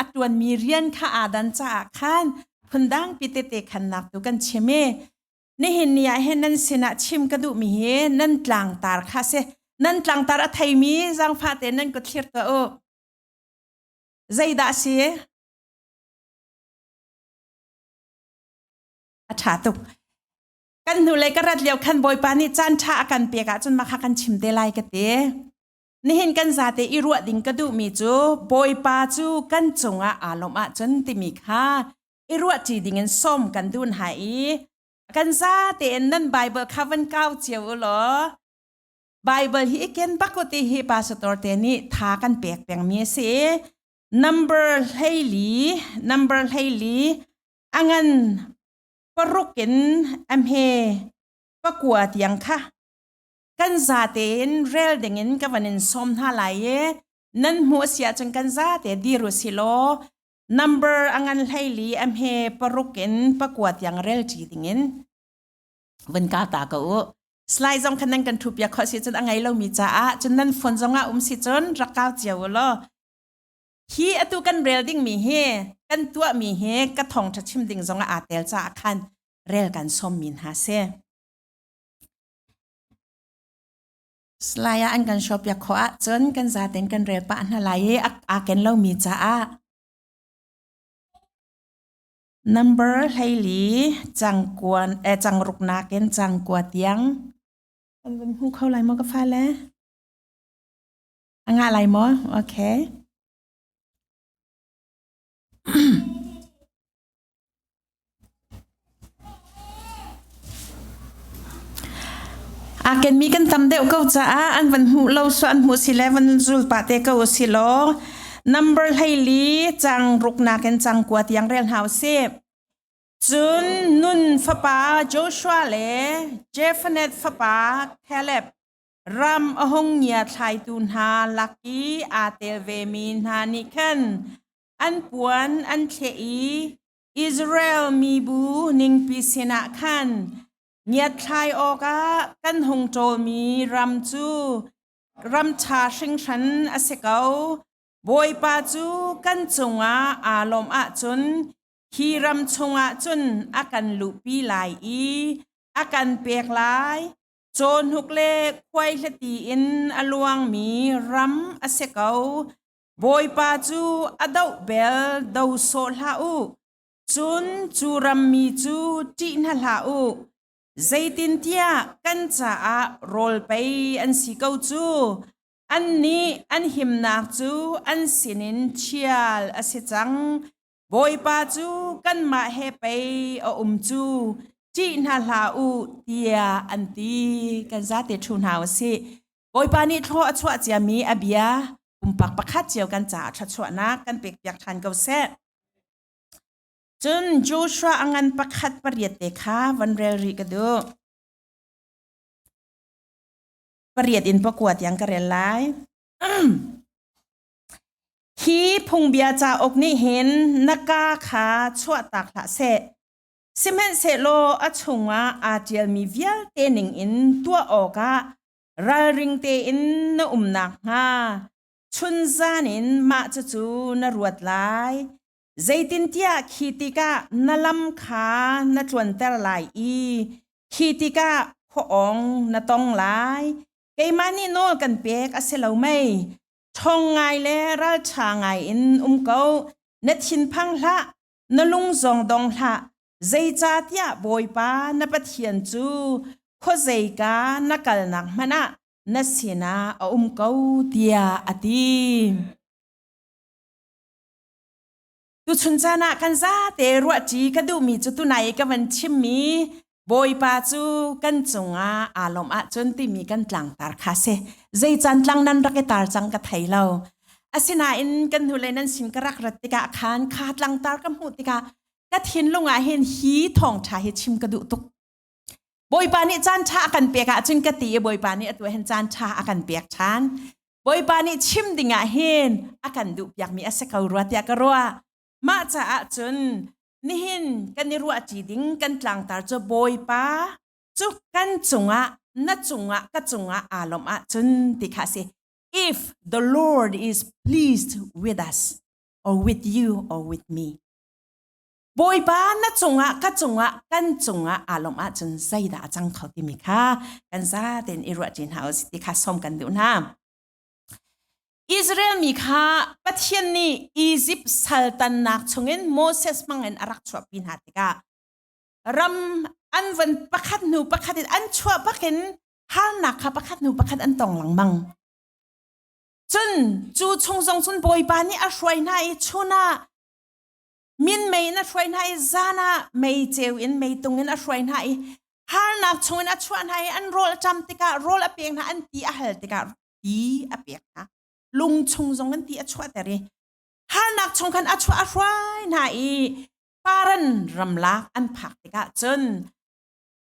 a tuanmi rian kha aa dan caah khan phundang pi tete khannak tu kan chim i nihin ni ah hin nan sinah chim ka duhmi hi nan tlangtar kha si nan tlangtar a theimi zangfa te nan ku thlir tuah u zeidah si a ṭha tuk kan hnulei ka rat lio khan bawipa nih caan ṭha a kan pek ahcun mah kha kan chim te lai ka ti Nihin kan zate i ruah ding ka duhmi cu Bawipa cu kan cungah aa lawm ahcun timi kha i ruahṭi dingin sawm kan duun hai i kan zate in nan Baibal kha van kau cio u law Baibal hi i ken bak u ti hi Pastor Torte nih tha kan pek pengmi a si. Number hleili, number hleili a ngan paruk in a hme pakua tiang kha kan zate in rel ding in ka van in som hna lai e nan hmu a sia chang kan zate dir u si law number angan hleili am he paruk in pakua tiang rel ti ding in van ka ta ka u slai zong khan nan kan thu pia kho si chun angai lo mi cha a chun nan phone zong a um si chun rakau chiu lo hi atu kan rel ding mi hi kan tua mi hi ka thong tha chim ding zong a atel cha khan rel kan som min ha se Salai ah an kan shop yak khawh ahcun kan zaten kan rel pah hna lai i aa ken lomi caah number hleili cangkuan eh cangruk nakin cangkua tiang an van hmu kho lai maw ka fale a ngah lai maw okay Aa kenmi kan tam deuh ko caah an van hmuh lo suah an hmuh si le van zulpa te ko si law number hleili cang ruknak in cang kua tiang rel hau si. Cun nun fapa Joshua le Jephanet fapa Caleb Ram a hung ngiathlaitu hna lak i aa tel vemi hna nih khan an puan an thleh i Israel mibu ningpi sinah khan ngiathlai awkah kan hung ṭawlmi ram cu ram ṭha hringhran a si ko. Bawipa cu kan cungah aa lawmh ahcun hi ram chungah cun a kan luhpi lai i a kan pek lai. Cawnhuk le khuaihleti in a luangmi ram a si ko. Bawipa cu a doh bel do sawh hlah u. Cun cu rammi cu ṭih hna hlah u. Zeitintiah kan caah rawl pei an si ko cu. Annih an himnak cu an sinin ṭhial a si cang. Bawipa cu kanmah he pei a um cu ṭih hna hlah u tiah an ti kan zate ṭhu hna u sih Bawipa nih thlaw a chuah ciami a bia pumpak pakhat cio kan caah thluachuahnak kan pekpiak ṭhan ko seh cun Joshua a ngan pakhat pariat te kha van rel rih ka duh pariat in pakua tiang ka rel lai Hi phungbia cauk nih hin na ka kha chuahtak hlah seh. Sihmanhsehlaw a chungah aa ṭialmi vialte ningin tuah awkah ralring tein na um nakhnga chunzan in mah cucu na ruat lai. Zeitintiah khi tikah na lam kha na tluanter lai i khi tikah khua-awng na tong lai. Keimah nih nawl kan pek a si lo mei? Ṭhawng ngai le ralṭha ngai in um ko. Na thinphang hlah, na lung zong dong hlah. Zeicahtiah Bawipa na Pathian cu khuazeika na kalnak hmanh ah na sinah a um ko, tiah a ti. Tuchun caan ah kan zate ruahṭi ka duhmi cu tunai i ka van chimmi Bawipa cu kan cungah aa lawmh ahcun timi kan tlangtar kha si. Zei can tlang nan rak i tar cang ka thei lo. Asinain kan hnulei nan sin ka rak rat tikah khan kha tlangtar ka hmuh tikah ka thinlung ah hin hi thawngṭha hi chim ka duh tuk. Bawipa nih caan ṭha a kan pek ahcun ka ti i Bawipa nih atu hin caan ṭha a kan pek ṭhan. Bawipa nih chim dingah hin a kan duh piakmi a si ko rua tiah ka ruah. Mah caah cun nihin kan i ruahṭi ding kan tlangtar cu Bawipa cu kan cungah na cungah ka cungah aa lawmh ahcun ti kha a si. If the Lord is pleased with us or with you or with me. Bawipa na cungah ka cungah kan cungah aa lawmh ahcun zeidah a cang kho timi kha kan za tein i ruahchin hna u ti kha sawm kan duh hna. Israel mi kha Pathian nih Izipt saltannak chungin Moses hmangin a rak chuahpi hna tikah ram an van pakhat hnu pakhat in an chuah bakin harnak kha pakhat hnu pakhat an tong lengmang. Cun cu chung zong cun Bawipa nih a hruai hna i chun ah minmei in a hruai hna i zan ah meiceu in meitung in a hruai hna i harnak chungin a chuah hna i an rawl cam tikah rawl a pek hna an ti a hal tikah ti a pek hna lung chung zong an ti a chuahter i harnak chung khan a chuah a hruai hna i paran ramlak an phak tikah cun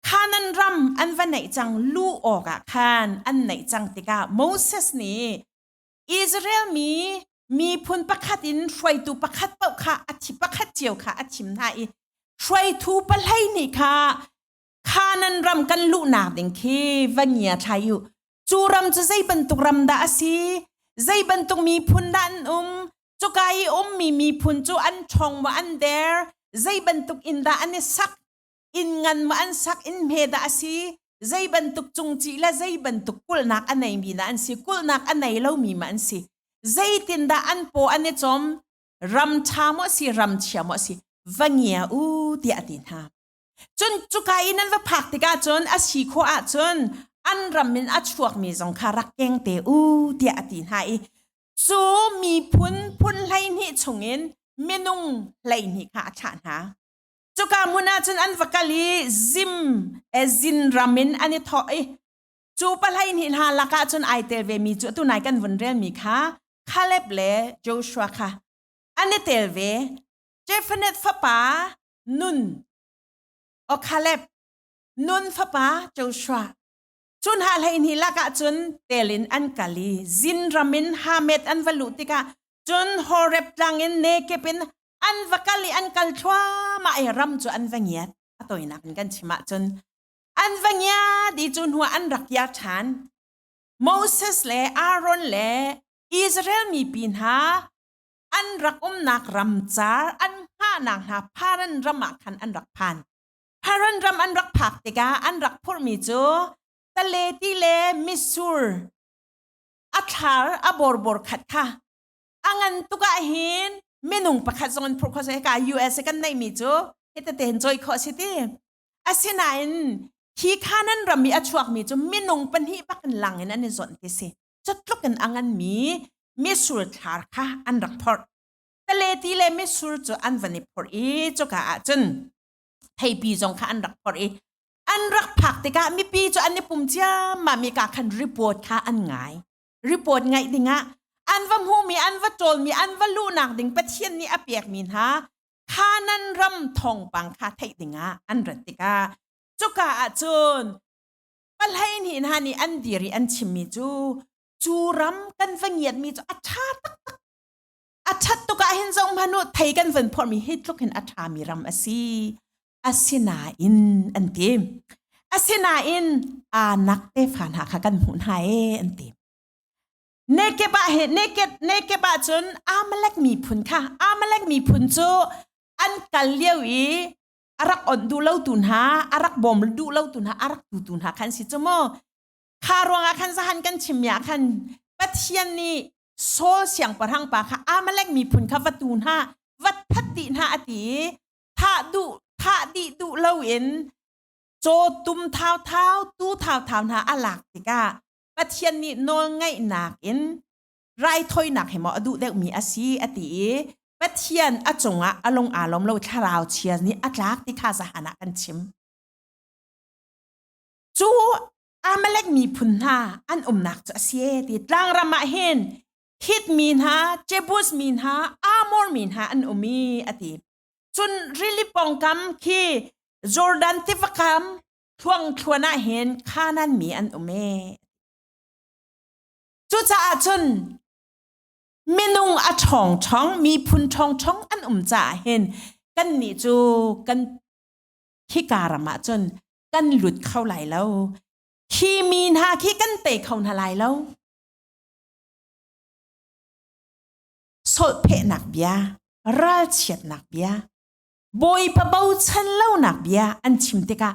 Kanan ram an va neih cang lu awkah khan an neih cang tikah Moses nih Israel mi miphun pakhat in hruaitu pakhat paoh kha a thi pakhat cio kha a thim hna i hruaitu pahlei nih kha Kanaan ram kan luhnak ding khi va ngia thlai u. Cu ram cu zei bantuk ram dah a si? Zei bantuk miphun dah an um? Cuka i ummi miphun cu an ṭhong maw an der? Zei bantuk in dah an i sak? inn ngan ma an sak in hme dah a si zei bantuk cungci le zei bantuk kulnak a nei mi dah an si kulnak a nei lo mi ma an si zeitin dah an paw an i chom ram tha mo si ram chia mo si va ngia u tiah ti hna cun cuka i nan va phak tikah cun a si kho ah cun an ram in a chuak mi zong kha rak keng te u tiah a ti hna i cu mi phun phun hlei hnih chungin minung hlei hnih kha a thlah hna cuka hmun ah cun an va kal i zim ezin ram in an i thawh i cu palai hnih hna lakah cun ai tel ve mi cu atu nai kan vun rel mi kha Caleb le Joshua kha an i tel ve Jephanet fapa Nun o Caleb Nun fapa Joshua cu hna hleihnih lakah cun telin an kal i zin ram in Hamet an va luh tikah cun Horeb tlangin nekep in an va kal i an kal thluahmah i ram cu an va ngiat a tawinak in kan chim ahcun an va ngia ti cu hnu an rak kia ṭhan Moses le Aaron le Israel mipi hna an rak umnak ram car an hngahnak hna Paran ram ah khan an rak phan Paran ram an rak phak tikah an rak phurhmi cu tale ti le mitsur a thlar a borbor khat kha A ngan tuk ah hin minung pakhat zong an phurh kho seh hika US i kan neihmi cu hitete hin cawi khawh a si ti. Asinain hi kha nan ram i a chuakmi cu minung pahnih bak in lang in an i zonh ti si. Cu tluk in a nganmi misur thlar kha an rak phorh. Taleti le misur cu an van i phorh i cuka ah cun theipi zong kha an rak phorh i an rak phak tikah mipi cu an i pum ciammam i ka khan report kha an ngai. report ngai dingah an va hmuhmi an va ṭawlmi an va luhnak ding Pathian nih a pekmi hna Kanan ram thawngpang kha theih dingah an rat tikah cuka ah cun pahleihnih hna nih an dir i an chimmi cu cu ram kan va ngiatmi cu a ṭha taktak a ṭhat tuk ahhin zohhmanh u thei kan van phorhmi hi tluk hin a ṭhami ram a si asinain an ti asinain aa nak tefa hna kha kan hmuh hna e an ti nekeb ah he nekeb nekeb ah cun amalek miphun kha amalek miphun cu an kal lio i arak on du lo tu hna arak bom du lo tu hna arak tu tu hna khan si chu mo kha ruangah khan zahan kan chimya khan pathian nih Saul siangpahrang pa kha Amalek miphun kha vatu hna vat phat ti hna ati thah dih duh loin caw tum thauthau tu thauthau hna a lak tikah Pathian nih nawlngaihnak in raithawinak he maw a duh deuhmi a si a ti i Pathian a cungah a lung aa lom lo thlarau chia nih a tlak ti kha zahan ah kan chim cu Amalek miphun hna an umnak cu a si ti tlangram ah hin Hit mi hna, Jebus mi hna, Amor mi hna an um i a ti. Cun rili pongkam khi Jordan tiva kam thuang thluan ah hin Khanan mi an um e. Cucaah cun minung a ṭhawngṭhong miphun ṭhawngṭhong an um caah hin kannih cu kan hika ram ah cun kan lut kho lai lo. Hi mi hna khi kan tei kho hna lai lo. solhphehnak bia ralchiatnak bia bawipa bochan lonak bia an chim tikah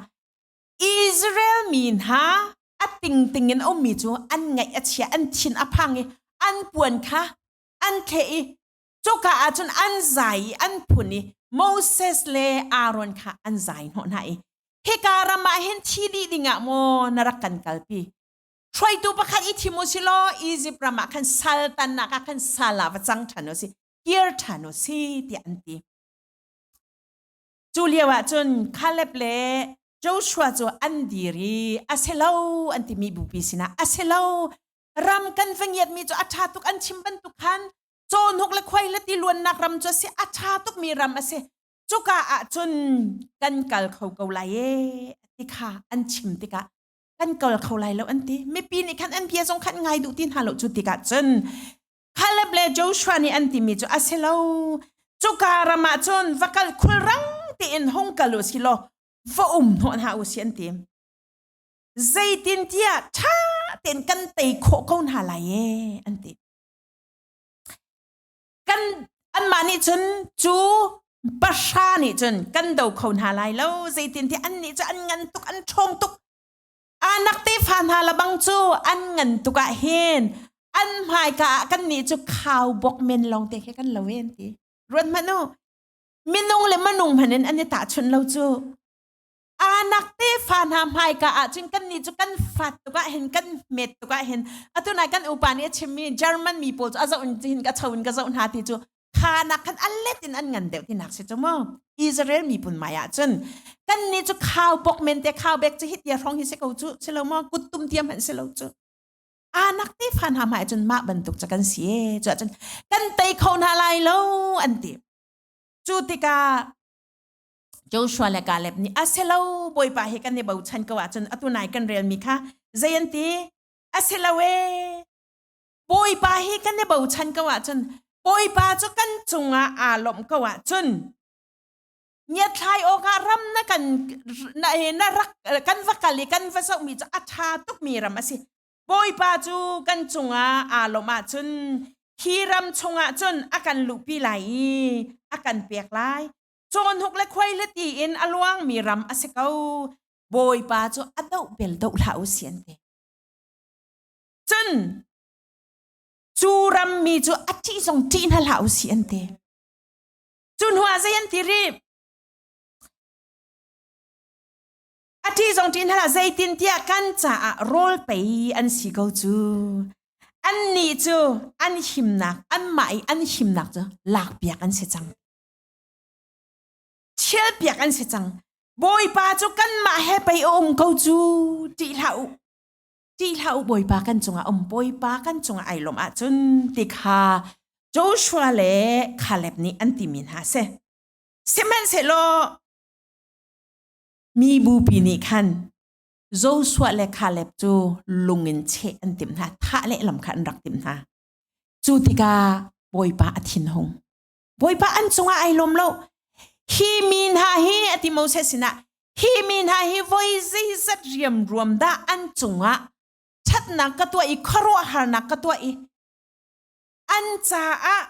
Israel mi hna a tingting in ummi cu an ngaih a chia an thin a phang i an puan kha an thle i cuka ah cun an zai i an phun i Moses le Aaron kha an zai hnawh hna i hika ram ah hin thi dih dingah maw na rak kan kalpi hruaitu pakhat i thim u si law Egypt ram ah khan saltannak ah khan sal ah va cang ṭhan u si kir ṭhan u si tiah an ti cu lio ah cun Caleb le Joshua cu an dir i a se lo an timi bupi sinah a se lo ram kan va ngiatmi cu a ṭha tuk an chim bantuk khan cawnuk le khuai le ti luannak ram cu a si a ṭha tukmi ram a si cuka ah cun kan kal kho ko lai e ti kha an chim tikah kan kal kho lai lo an ti mipi nih khan an bia zong khan ngai duh ti hna lo cu tikah cun Caleb le Joshua nih an timi cu a si lo cuka ram ah cun va kal khul rang tiin hung kal u si law va um hnawh hna u si an ti zeitintiah ṭha tein kan tei khawh ko hna lai e an ti kan anmah nih cun cu pahra nih cun kan do kho hna lai lo zeitintiah annih cu an ngan tuk an ṭhawng tuk anak tefa hna labang cu an ngan tuk ah hin an hmaika ah kannih cu khau bok men lawng te khi kan lo e an ti ruat hmanh u minung le manung hmanh in an i tahchunh lo cu aa nak tefa hna hmaika ahcun kannih cu kan fat tuk ahhin kan met tuk ahhin atu nai kan upa nih a chimmi German mi pawl cu a zoh in hin ka cho in ka zoh hna ti cu kha nak khan allet in an ngan deuh ti nak si cu mu Israel mi pun mai ahcun kan ni cu khau pok men te khau bek cu hit ya rong hi se ko cu si lo mo kuttum tiam han si lo cu anak te fan ha mai cun ma bantuk cha kan si e chu cun kan tei kho na lai lo an ti cu tikah Joshua le Caleb nih a se lo bawipa he kan i bochan ko ahcun atu nai kan relmi kha zei an ti a si lo e bawipa hi kan i bochan ko ahcun bawipa cu kan cungah aa lawmh ko ahcun ngiathlai awkah ram na kan na, na rak kan va kal i kan va zohmi cu a ṭha tukmi ram a si bawipa cu kan cungah aa lawmh ahcun hi ram chungah cun a kan luhpi lai i a kan pek lai cawnhuk le khuaihli tiin a luangmi ram a si ko. Bawipa cu a doh bel doh hlah u si an ti. Cun cu rammi cu a ṭih zong ṭih hna hlah u si an ti. Cu hnuah zei an ti rih? A ṭih zong ṭih hna hlah zeitintiah kan caah rawl pei an si ko cu. Annih cu an himnak, anmah i an himnak cu lakpiak an si cang. Thialpiak an si cang. Bawipa cu kanmah he pei a um ko cu ti hlah u. Ti hlah u Bawipa kan cungah um Bawipa kan cungah ai lawm ahcun ti kha Joshua le Caleb nih an timi hna si. Sihmanhsehlaw mi bupi nih khan Joshua le Caleb cu lung in cheh an timh hna thah lehlam kha an rak timh hna. Cu tikah Bawipa a thinhung. Bawipa an cungah ai lawm lo. Hi mi hna hi a ti Moses sinah hi mi hna hi voi zeizat riam ruam dah an cungah thatnak ka tuah i khuaruahharnak ka tuah i an caah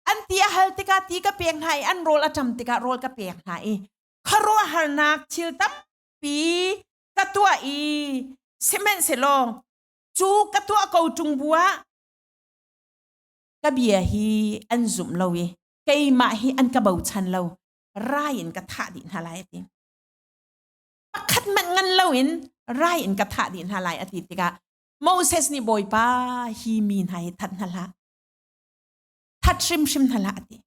an ti a hal tikah ti ka pek hna i an rawl a tam tikah rawl ka pek hna i khuaruahharnak thil tampi ka tuah i sihmanhsehlaw cu ka tuah ko ṭung bu ah ka bia hi an zumh lo i keimah hi an ka bochan lo rai in ka thah dih hna lai a ti pakhat manh ngan lo in rai in ka thah dih hna lai a ti tikah Moses nih Bawipa hi mi hna hi that hna hlah that hrimhrim hna hlah a ti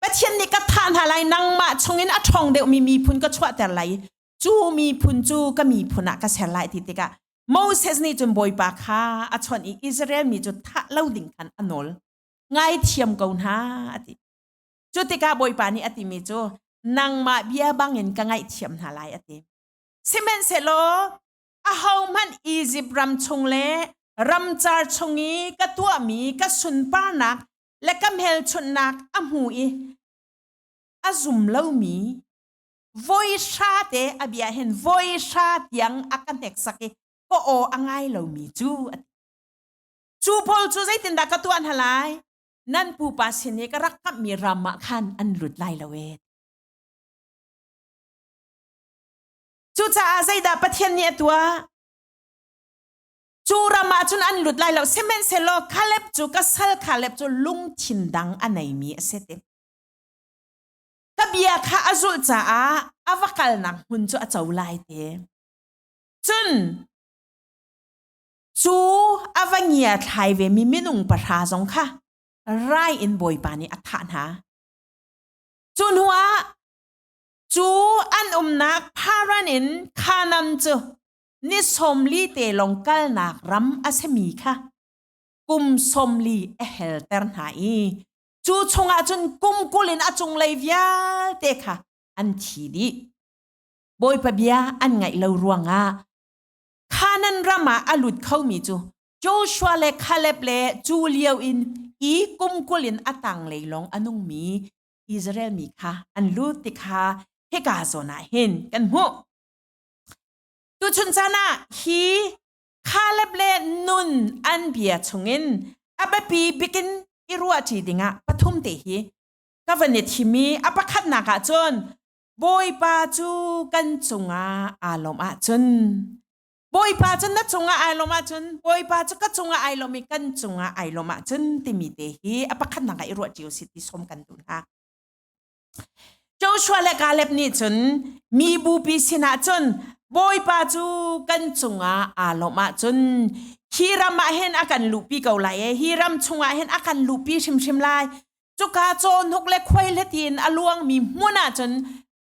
Pathian nih ka thah hna lai nangmah chungin a ṭhawng deuhmi miphun ka chuahter lai i cu miphun cu ka miphun ah ka ser lai ti tikah Moses nih cun Bawipa kha a chawnh i Israel mi cu thah lo ding khan a nawl ngaithiam ko hna a ti cu tikah Bawipa nih a timi cu nangmah bia bangin ka ngaihthiam hna lai a ti sihmanhsehlaw ahohmanh Izipt ram chung le ramcar chung i ka tuahmi ka sunparnak le ka hmelchunhnak a hmu i a zum lomi voihra te a bia hin voihra tiang a ka hneksak i ka aw a ngai lomi cu cu pawl cu zeitindah ka tuah hna lai nan pupa sin i ka rak kamhmi ram ah khan an lut lai lo e cucaah zeidah pathian nih a tuah cu ram ah cun an lut lai lo sihmanhsehlaw Kaleb cu ka sal Kaleb cu lungthin dang a neimi a si te ka bia kha a zulh caah a va kalnak hmun cu a co lai te cun cu a va ngia thlai ve mi minung pahra zong kha rai in bawipa nih a thah hna cu hnu ah cu an umnak pharan in khanam cu ni sawmli te lawng kalnak ram a simi kha kum sawmli a helter hna i cu chungah cun kum kul in a cunglei vialte kha an thi dih bawipa bia an ngaih lo ruangah Kanan ram ah a lut khomi cu Joshua le Caleb le cu lio in i kum kul in a tanglei lawng a nungmi Israel mi kha an lut ti kha hika zawn ah hin kan hmuh tuchun caan ah hi Caleb le nun an bia chungin a biapi bikin i ruahṭi dingah pathum te hi ka van i thim i a pakhatnak ah cun Bawipa cu kan cungah aa lawm ahcun Bawipa cu na cungah ai lawm ahcun Bawipa cu ka cungah ai lawm i kan cungah ai lawm ahcun timi te hi a pakhatnak ah i ruahṭi u sih ti sawm kan duh hna. Joshua le Caleb nih cun mi bupi sinah cun Bawipa cu kan cungah aa lawmh ahcun hi ram ah hin a kan luhpi ko lai i hi ram chungah hin a kan luhpi hrimhrim lai. Cuka cawhnuk le khuailet in a luangmi hmun ah cun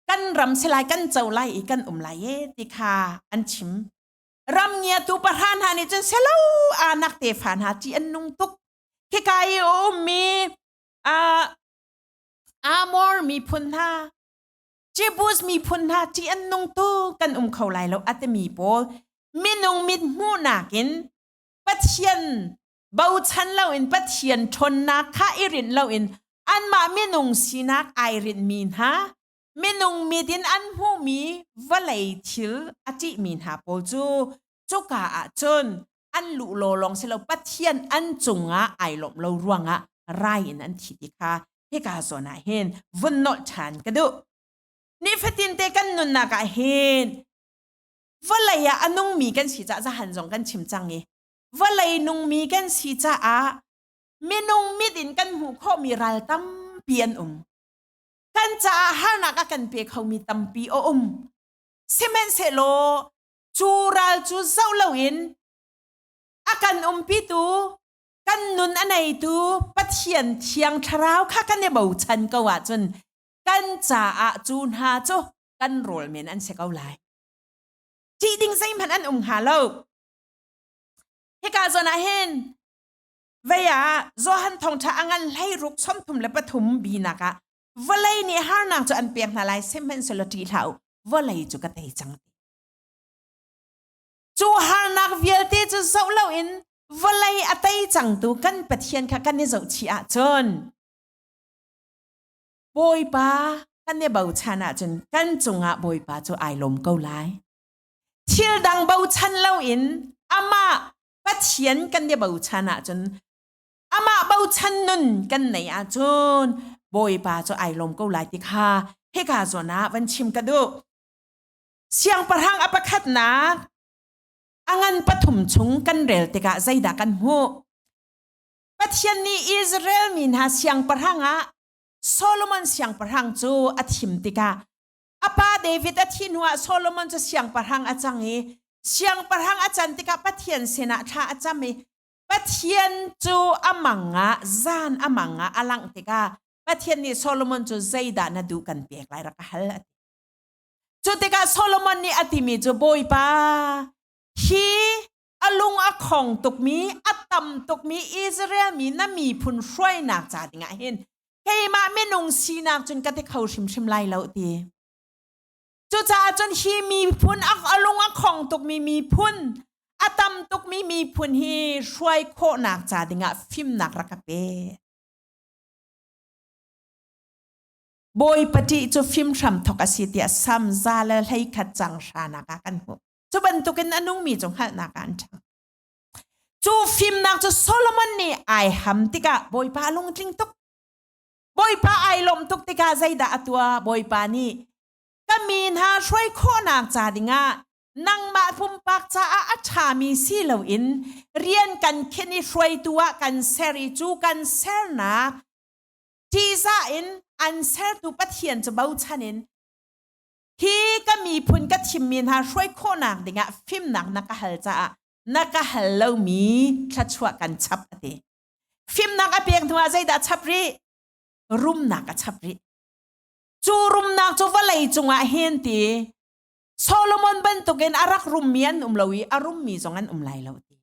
kan ram si lai, kan co lai i kan um lai e ti kha an chim. Ram ngiatu pahra hna nih cun selo anak tefa hna ṭih an nung tuk. Khika i a ummi uh, Amor miphun hna, Jebus miphun hna ṭih an nung tu kan um kho lai lo a timi pawl minung mit hmuhnak in Pathian bochan loin Pathian ṭhawnnak kha i rinh loin anmah minung sinak ai rinhmi hna, minung mit in an hmuhmi vawlei thil a ṭihmi hna pawl cu cuka ah cun an luh law lawng si lo pathian an cungah ai lawmh lo ruangah rai in an thi ti kha hika zawn ah hin vun nolh ṭhan ka duh nifatin te kan nunnak ah hin vawlei ah a nungmi kan si caah zahan zong kan chim cang i vawlei nungmi kan si caah minung mit in kan hmuh khawhmi ral tampi an um kan caah harnak a kan pe khomi tampi a um sihmanhsehlaw cu ral cu zoh loin a kan umpitu kan nun a neitu Pathian thiang thlarau kha kan i bochan ko ahcun kan caah cu hna cu kan rawl men an si ko lai tih ding zeihmanh an um hnga lo hika zon ah hin vei ah Johan thongtha a ngan hlei ruk chom thum le pathum binak ah vawlei nih harnak cu an pek hna lai sihmanhsehlaw ṭih hlah u vawlei cu ka tei cang cu harnak vialte cu zoh loin vawlei a tei cangtu kan Pathian kha kan i zohchih ahcun Bawipa kan i bochan ahcun kan cungah Bawipa cu ai lawm ko lai thil dang bochan loin amah Pathian kan i bochan ahcun amah bochan nun kan nei ahcun bawipa cu ai lawm ko lai ti kha hika zawn ah van chim ka duh siangpahrang a pakhatnak a ngan pathum chung kan rel tikah zeidah kan hmuh pathian nih Israel mi hna siangpahrang ah Solomon siangpahrang cu a thim tikah a pa David a thi hnuah Solomon cu siangpahrang a cang i siangpahrang a can tikah Pathian sinah thla a cam i Pathian cu a mangah zan a mangah a langh tikah Pathian nih Solomon cu zeidah na duh kan pek lai rak a hal a ti. Cu tikah Solomon nih a timi cu Bawipa hi a lung a khong tukmi a tam tukmi Israel mi na miphun hruainak ca dingah hin keimah minung sinak cun ka ti kho hrimhrim lai lo ti. Cucaah cun hi miphun a lung a khong tukmi miphun a tam tukmi miphun hi hruai khawhnak ca dingah fimnak rak ka pe. Bawi pati cu fim hram thok a si tiah sam za le hlei khat cang hranak ah kan hmuh. Cu bantukin a nungmi cu hngalhnak ah an ṭhang. Cu fimnak cu Solomon nih ai ham tikah Bawipa a lungtling tuk. Bawipa ai lawmh tuk tikah zeidah a tuah Bawipa nih ka mi hna hruai khawhnak ca dingah nangmah pumpak caah a ṭhami si loin rian kan khin i hruaitu ah kan ser i cu kan sernak ṭihzah in an sertu Pathian cu bochan in hi ka miphun ka thimmi hna hruai khawhnak dingah fimnak na ka hal caah na ka hal lomi thluachuah kan chap a ti. Fimnak a pek hnuah zeidah a chap rih? Rumnak a chap rih. Cu rumnak cu vawlei cungah hin ti Solomon bantukin a rak rummi an um lo i a rummi zong an um lai lo ti.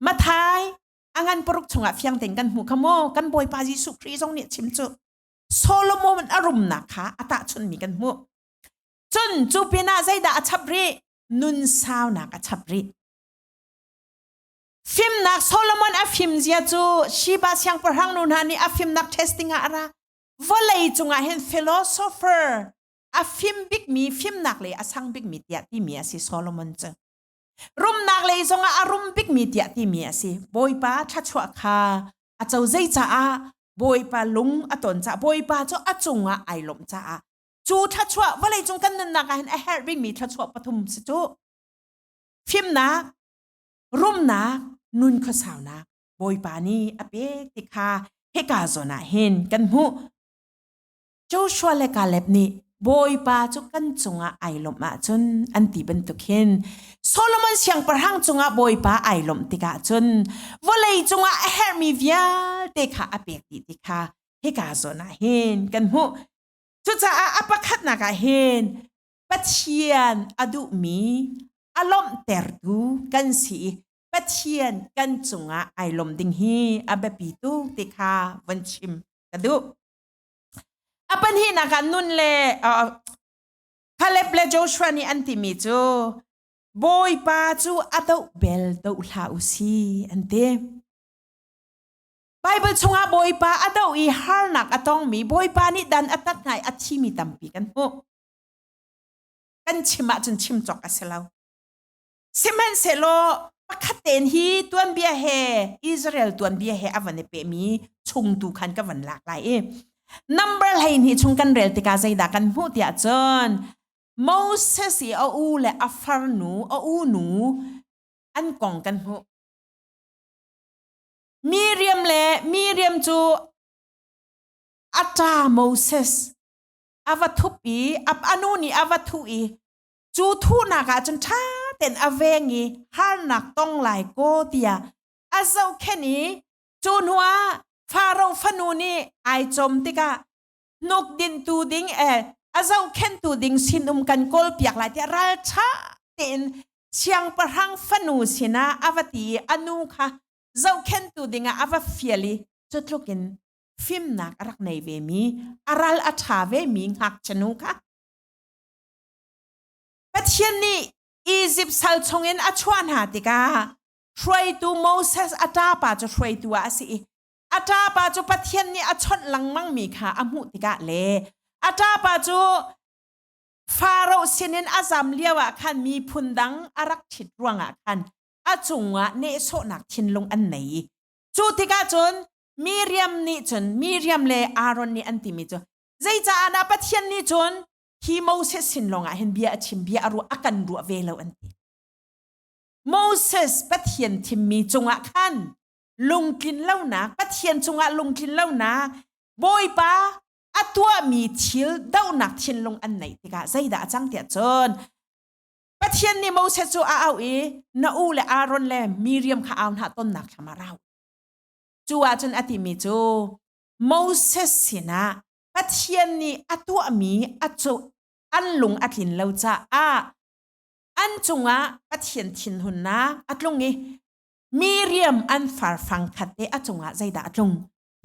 Mathai a ngan paruk chungah fiang tein kan hmu kha maw kan Bawipa Jesuh Khrih zong nih chim cu Solomon a rumnak kha a tahchunmi kan hmuh. Cun cu pinah zeidah a chap rih? Nun saunak a chap rih. Fimnak Solomon a fimzia cu Shiba siangpahrang nu hna nih a fimnak testing ah a ra. Vawlei cungah hin philosopher a fim bikmi fimnak le a sang bikmi tiah timi a si Solomon cu. Rumnak lei zongah a rum bikmi tiah timi a si. Bawipa thluachuah kha a co zei caah Bawipa lung a ton caah Bawipa cu a cungah ai lawmh caah cu thluachuah vawlei cung kan nunnak ah hin a herh bikmi thluachuah pathum si cu fimnak rumnak nun khuasaunak bawipa nih a pek ti kha hika zawn ah hin kan hmuh Joshua le Caleb nih Bawipa cu kan cungah ai lawmh ahcun an ti bantuk hin Solomon siangpahrang cungah Bawipa ai lawmh tikah cun vawlei cungah a herhmi vialte kha a pek dih ti kha hika zawn ah hin kan hmuh cucaah a pakhatnak ah hin Pathian a duhmi, a lawmhtertu kan si i Pathian kan cungah ai lawm ding hi a biapitu ti kha von chim ka duh. A pahnihnak ah nun le uh, Caleb le Joshua nih an timi cu Bawipa cu a doh bel doh hlah u si an ti. Bible chungah Bawipa a doh i harnak a tongmi Bawipa nih dan a tat hna i a thimi tampi kan hmuh. kan chim ahcun chim cawk a si lo sihmanhsehlaw pakhat tein hi tuanbia he Israel tuanbia he a van i pehmi chung tu khan ka van lak lai i number hleihnih chung kan rel tikah zeidah kan hmuh tiah cun Moses i a u le a farnu a u nu an kong kan hmuh Miriam le Miriam cu a ta Moses a va thup i a nu nih a va thuh i cu thuhnak ah cun ṭha ten a veng i harnak tong lai kaw tiah a zohkhen i cu hnuah Faro fanu nih ai cawm tikah hnukdintu ding eh a zohkhentu ding sinum kan kawlpiak lai tiah ralṭha tein siangpahrang fanu sinah a va ti i a nu kha zohkhentu dingah a va fial i cutluk in fimnak a rak nei vemi a ral a ṭha vemi ngakchanu kha Pathian nih Izipt sal chungin a chuah hna tikah hruaitu Moses a ṭapa cu hruaitu ah a si i a ṭapa cu Pathian nih a chawnh lengmangmi kha a hmuh tikah le a ṭapa cu Faro sinin a zam lio ah khan miphun dang a rak ṭhit ruangah khan a cungah nehsawhnak thinlung an nei i cu tikah cun Miriam nih cun Miriam le Aaron nih an timi cu zeicaah dah Pathian nih cun hi Moses sin lawngah hin bia a chim bia a ruah a kan ruah ve lo an ti Moses Pathian thimmi cungah khan lungtlin lonak Pathian cungah lungtlin lonak Bawipa a tuahmi thil dohnak thinlung an neih tikah zeidah a cang tiah cun Pathian nih Moses cu a auh i na u le Aaron le Miriam kha au hna tonnak thlam ah ra u Cu ahcun a timi cu Moses sinah Pathian nih a tuahmi a cu an lung a tlin lo caah an cungah Pathian thinhunnak a tlung i miriam an farfang khat te a cungah zeidah a tlung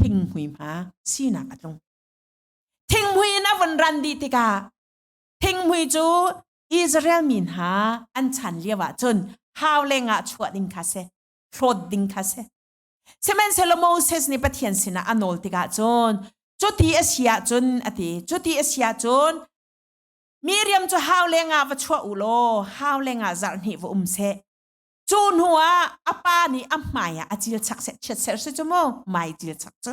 thinghmui hma sinak a tlung thingmui in a vun ran dih tikah thingmui cu Israel mi hna an chan lio ahcun hau lengah chuah ding kha si hlawt ding kha si sihmanhsehlaw Moses nih Pathian sinah a nawl tikah cun cuti a si ahcun a ti cuti a si ahcun Miriam cu hau le nga va chuah u law hau le nga zarh hnih va um seh cu hnu ah a pa nih a hmai ah a cil chak seh chiat ser si cu mu mai cil chak cu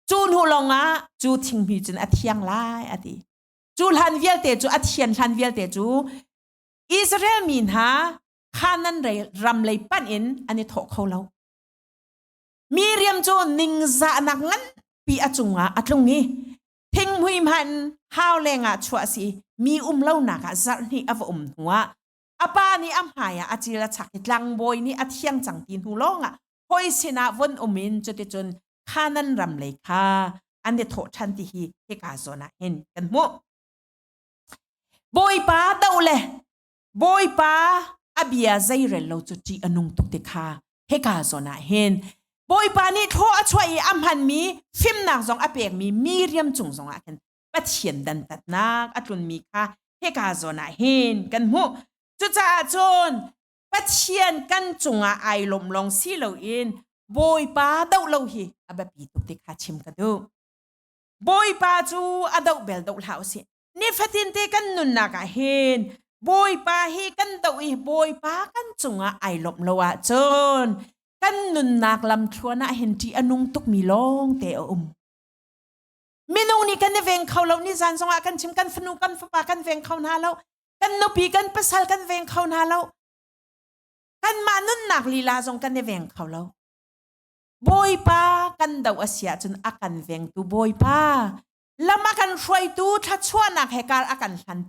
cu hnu lawng ah cu thingmi cun a thiang lai a ti cu hlan vialte cu a thian hlan vialte cu Israel mi hna Kanan rei ram lei panh in an i thawh kho lo. Mi riam cu ningzahnak nganpi a cungah a tlung i thinghmui hman hau lengah chuah si mi um lonak ah zarh hnih a va um hnu ah a pa nih a hmai ah a cil a chak i tlangbawi nih a thiang cang ti hnu lawngah hoi sinah von um in cuticun Kanan ram lei kha an i thawh ṭhan ti hi hika zawn ah hin kan hmuh. Bawipa do le Bawipa a bia zeirel lo cu ṭih a nung tuk ti kha hika zawn ah hin Bawipa nih thlaw a chuah i a hmanmi fimnak zong a pekmi mi riam cung zongah khin Pathian dantatnak a tlunmi kha hika zawn ah hin kan hmuh. Cucaah cun Pathian kan cungah ai lawm lawng si loin Bawipa doh lo hi a biapi tuk ti kha chim ka duh. Bawipa cu a doh bel doh hlah u sih. Nifatinte kan nunnak ah hin Bawipa hi kan doh i Bawipa kan cungah ai lawmh lo ahcun kan nunnak lamthluan ah hin ṭih a nung tukmi lawngte a um. Minung nih kan i veng kho lo ni zan zongah kan chim kan fanu kan fapa kan veng kho hna lo kan nupi kan pasal kan veng kho hna lo kanmah nunnak lila zong kan i veng kho lo Bawipa kan do a si ahcun a kan vengtu Bawipa lam a kan hruaitu thluachuahnak he kar a kan hlan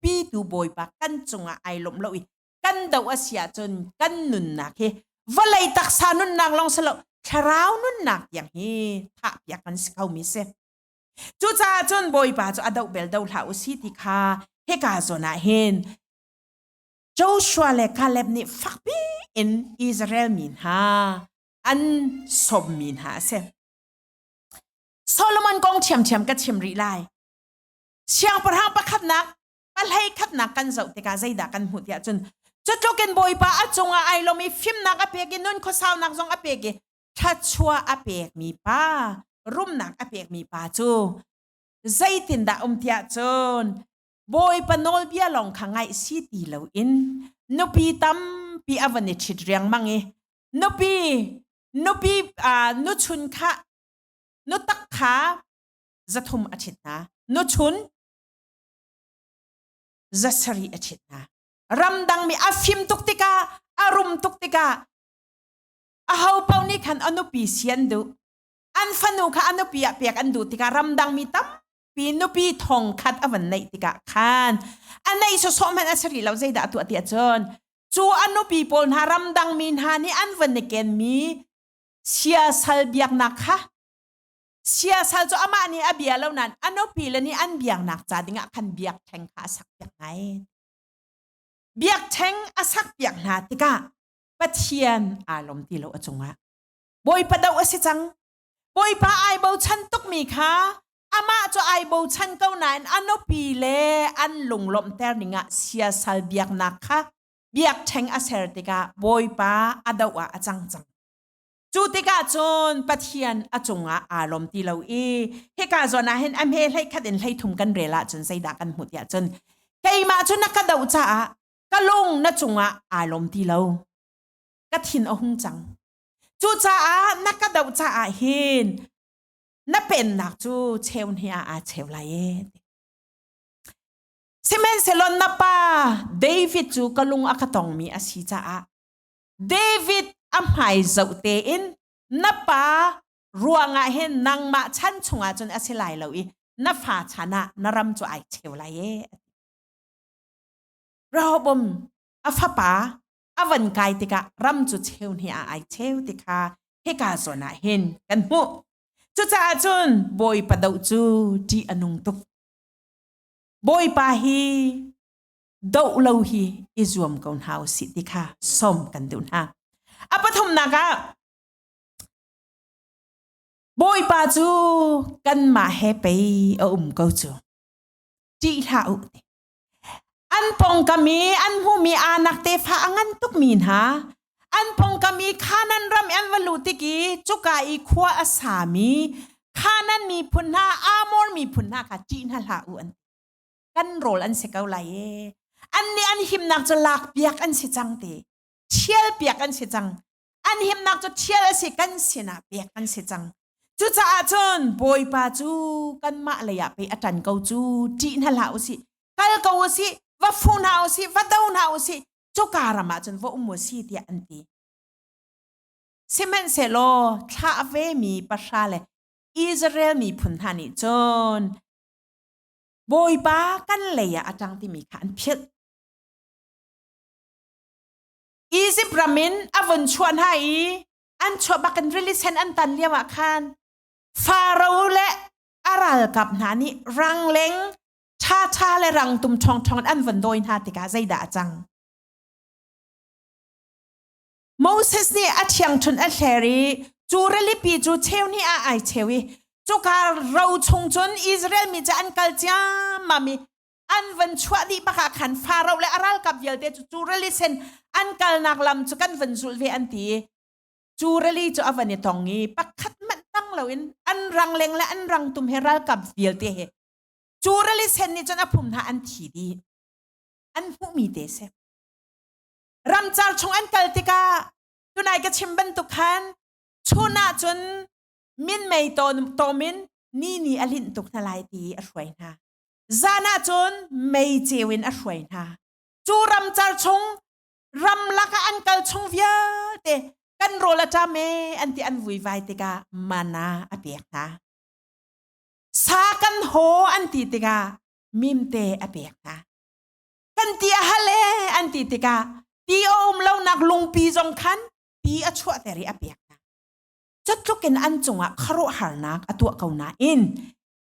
pitu bawipa kan cungah ai lawmh lo i kan do a si ahcun kan nunnak hi vawlei taksa nunnak lawng si lo thlarau nunnak tiang hi thahpiak kan si kho mi si cucaah cun bawipa cu a doh bel do hlah u si ti kha heka zawn ah hin Joshua le Caleb nih fakpi in Israel mi hna an sawm mi hna a si Solomon kong thiamthiam ka chim rih lai. Siangpahrang pakhatnak ka hlei khatnak kan zoh tikah zeidah kan hmuh tiah cun cutlukin bawipa a cungah ai lom i fimnak a pek i nun khuasaunak zong a pek i thluachuah a pekmi pa rumnak a pekmi pa cu zeitindah um tiah cun bawipa nawlbia lawng kha ngaih si ti loin nupi tampi a van i ṭhit riangmang i nupi nupi uh, nu chun kha nu tak kha zathum a ṭhit hna nu chun za sarih a ṭhit hna ramdangmi a fim tuk tikah a rum tuk tikah aho paoh nih khan a nupi si an duh an fanu kha a nupi ah pek an duh tikah ramdangmi tampi nupi thong khat a van neih tikah khan a neih sawsawh hmanh a si rih lo zeidah a tuah tiah cun cu a nupi pawl hna ramdangmi hna nih an van i kenmi siasal biaknak kha siasal cu amah nih a bia lo nain a nupi le nih an biaknak ca dingah khan biak theng kha a sak piak ngai biak theng a sak piak hna tikah pathian aa lom ti lo a cungah bawipa do a si cang bawipa ai bochan tukmi kha amah cu ai bochan ko nain a nupi le an lunglawmhter ningah siasal biaknak kha biakṭheng a ser tikah Bawipa a doh ah a cang cang. Cu tikah cun Pathian a cungah aa lom ti lo i hika zawn ah hin a hme hlei khat in hlei thum kan rel ahcun zeidah kan hmuh tiah cun keimah cu na ka doh caah ka lung na cungah aa lom ti lo ka thin a hung cang cucaah na ka doh caah hin na pennak cu cheu hnih ah aa cheu lai ee Sihmanhsehlaw na pa David cu ka lung a ka tongmi a si caah David a hmai zoh tein na pa ruangah hin nangmah chan chungah cun a si lai lo i na fa chan ah na ram cu ai cheu lai e. Rehoboam a fapa a van kai tikah ram cu cheu hnih ah ai cheu ti kha hika zawn ah hin kan hmuh. Cucaah cun Bawipa doh cu ṭih a nung tuk. Bawipa hi doh lo hi i zuam ko hna u si ti kha som kan duh hna. A pathumnak ah Bawipa cu kanmah he pei a um ko cu. Ṭih hlah u ti. An pongkam i an hmuhmi aa nak tefa a ngan tukmi hna an phongkam i Khanan ram an va lut tik i cuka i khua a sami Khanan miphun hna Amor miphun hna kha ṭih hna hlah u an kan rawl an si ko lai e an nih an himnak cu lak piak an si cang te ṭhial piak an si cang an himnak cu ṭhial a si kan sinah piak an si cang cucaah cun bawipa cu kanmah leiah pei a ṭan ko cu ṭih hna hlah u sih kal ko u sih va fu hna u sih va do hna u sih cuka ram ah cun va um u si tiah an ti sihmanhsehlaw thlah ve mi pahra le Israel miphun hna nih cun Bawipa kan leiah a ṭang timi kha an philh Izipt ram in a vun chuah hna i an chuah bak in rili sen an tan lio ah khan Pharaoh le a ralkap hna nih rangleng Ṭhaṭha le rangtum ṭhongṭhong in an von dawi hna tikah zeidah a cang? Moses nih a ṭhiangṭhunh a hler i cu ralipi cu cheu hnih ah ai cheu i cuka ro chung cun Israel mi cu an kal ciammam i an van chuah dih bak ah khan Farao le a ralkap vialte cu cu rali sen an kalnak lam cu kan van zulh ve an ti i cu rali cu a van i tong i pakhat hmanh tang loin an rang leng le an rang tum he ralkap vialte he cu ralisen nih cun a phum hna an thi dih an hmuhmi te si ramcar chung an kal tikah tunai ka chim bantuk khan chun ah cun min mei tawmin ni ni a linh tuk hna lai ti a hruai hna zan ah cun mei ceu in a hruai hna cu ramcar chung ramlak ah an kal chung vialte kan rawl a ṭam e an ti an vuivai tikah mana a pek hna sa kan haw an ti tikah mimte a pek hna kan ti a hale an ti tikah ti a um lonak lungpi zong khan ti a chuahter i a pek hna cutlukin an cungah kharuahharnak a tuah ko nain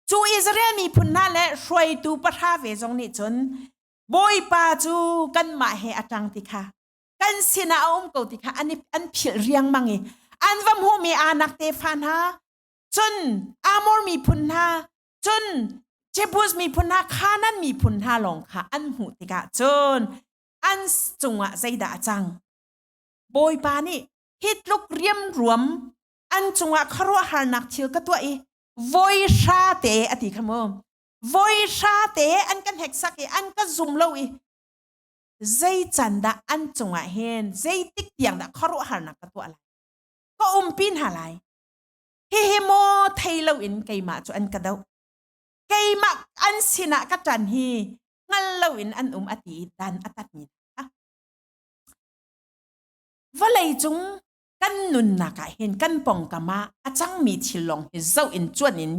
cu Israel miphun hna le hruaitu pahra ve zong nih cun bawipa cu kanmah he a ṭang ti kha kan sinah a um ko ti kha an, an philh riangmang i an va hmuhmi anak tefa hna cun Amor miphun hna cun Jebus miphun hna Khanan miphun hna lawng kha an hmuh tikah cun an cungah zeidah a cang bawipa nih hi tluk riamruam an cungah khuaruahharnak thil ka tuah i voi hra te a ti kha mu voi hra te an ka hneksak i an ka zum lo i zei can dah an cungah hin zeitik tiang dah khuaruahharnak ka tuah lai ka umpi hna lai Hihi maw thei loin keimah cu an ka doh. Keimah an sinah ka ṭan hi hngal loin an um a ti i dan a tatmi hna. Vawlei cung kan nunnak ah hin kan pongkam ah a cangmi thil lawng hi zoh in cuan in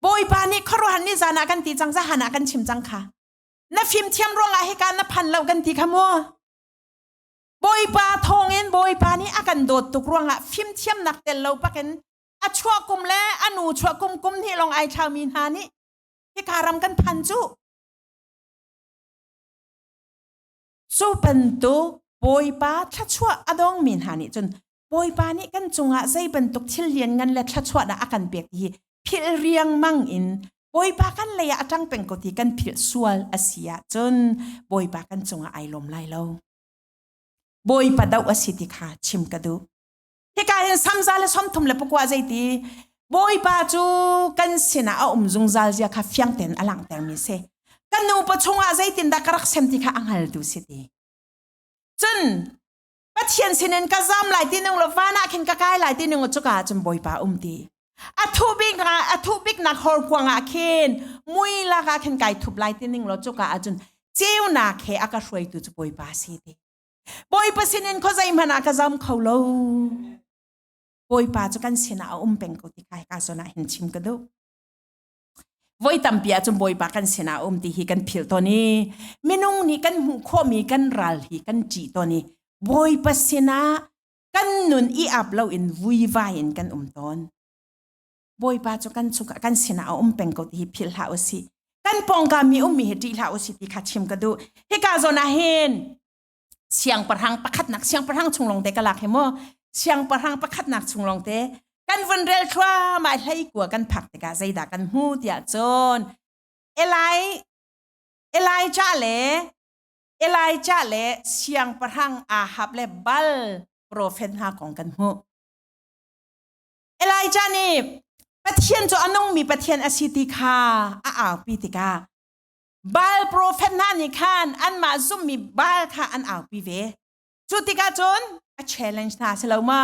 Bawipa nih khuaruahhar ni zan ah kan ti cang zahan ah kan chim cang kha. Na fimthiam ruangah hika na phan lo kan ti kha maw? Bawipa thawngin Bawipa nih a kan dawt tuk ruangah fimthiamnak tel lo bakin a chuah kum le a nu chuah kum kum hnih lawng ai thlaumi hna nih hika ram kan phan cu. Cu bantuk Bawipa thluachuah a dongmi hna nih cun Bawipa nih kan cungah zei bantuk thil lianngan le thluachuah dah a kan pek ti hi philh riangmang in Bawipa kan leiah a ṭang peng ko ti kan philh sual a si ahcun Bawipa kan cungah ai lawm lai lo. bawipa doh a si ti kha chim ka duh hika hin samza le somthum le pakua zeiti bawipa cu kan sinah a um zungzal zia kha fiang tein a langter mi si kan nu pa chungah zeitin dah ka rak sem ti kha a hngal tu si ti cun pathian sinin ka zam lai ti nung lo vanah khin ka kai lai ti nung cu ka cun bawipa um ti a thuh bik a thuh bik nak horkuang ah khin mui lak ah khin kai thup lai ti ning lo cuka ahcun ceunak he a ka hruaitu cu bawipa si ti bawipa sinin kho zei hmanh ah ka zam kho lo bawipa cu kan sinah a um peng ko ti kai ka sona hin chim ka duh voi tampi ahcun bawipa kan sinah um ti hi kan phil ton i minung nih kan hmuh khawhmi kan ral hi kan ṭih ton i bawipa sinah kan nun i ap loin vuivai in kan um tawn bawipa cu kan chung kan sinah a um peng ko ti hi philh hlah usi kan pongka mi um mi hi ṭih hlah usi ti kha chim ka duh hika zon ah hin siang parang pakhatnak siang parang chung longte ka lak hi mo siang parang pakhatnak chung longte kan vun rel thua mai hlei kua kan phak tikah zeidah kan hmu tiah cun elai elija le Elijah le siangpahrang Ahab le bal profet hna kong kan hmuh. Elijah nih Pathian cu a nungmi Pathian a si ti kha a aupi tikah Baal profet hna nih khan anmah zummi Baal kha an aupi ve. Cu tikah cun a challenge hna si lo ma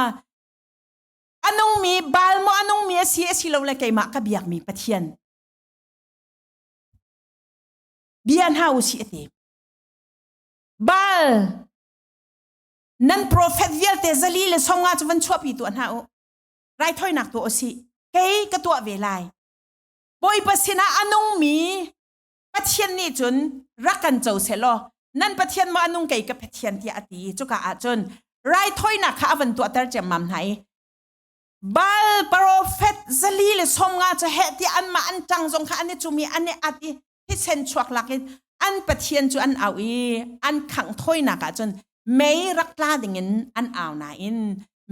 a nungmi Baal maw a nungmi a si a si lo le keimah ka biakmi Pathian bia hna u si ati bal nan profet vialte zali le songa cu van chuahpi tu hna u raithoinak tu osi kei ka tuah ve lai bawipa sinah a nungmi pathian nih cun rak kan co se law nan pathian ma nung kei ka pathian tiah ati cuka ah cun raithoinak kha avan tuahter cemmam hna i Baal profet zali le somnga ca heh ti anmah an ṭang zong kha an i cum i an i at i thisen chuak lak in an pathian cu an au i an khangh thawinak ah cun mei rak tla dingin an au nain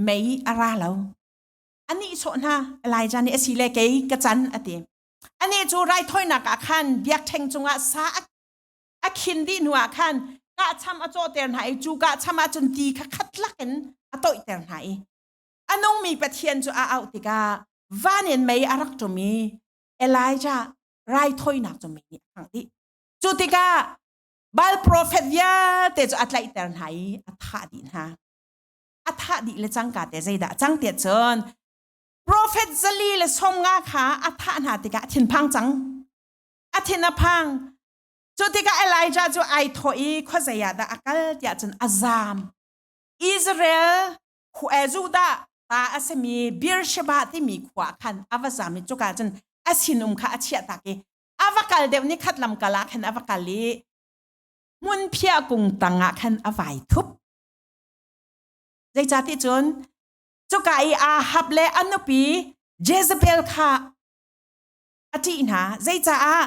mei a ra lo. A nihsawh hna Elijah nih asile kei ka can a ti. Anih cu raithawinak ah khan biakṭheng cungah sa a khin dih hnu ah khan kahcham a cawhter hna i cu kahcham ah cun ti kha khat lakin a toihter hna i a nungmi Pathian cu a auh tikah van in mei a rak ṭum i Elijah raithawinak cu mei nih a khangh dih. Cu tikah Baal profet vialte cu a tlaihter hna i a thah dih hna. A thah dih le cangka te zeidah a cang tiah cun profet zali le somnga kha a thah hna tikah a thinphang cang. A thin a phang. Cu tikah Elijah cu ai thawh i khuazei ah dah a kal tiah cun a zaam. Israel Hu e Judah ta a simi Beersheba timi khua khan a va zam i cuka cun a sinum kha a chiah tak i a va kal deuh ni khat lam kal ah khan a va kal i hmunphia kung tangah khan a vai thup. Zeicah ti cun cuka i Ahab le a nupi Jezebel kha a ṭih hna. Zeicaah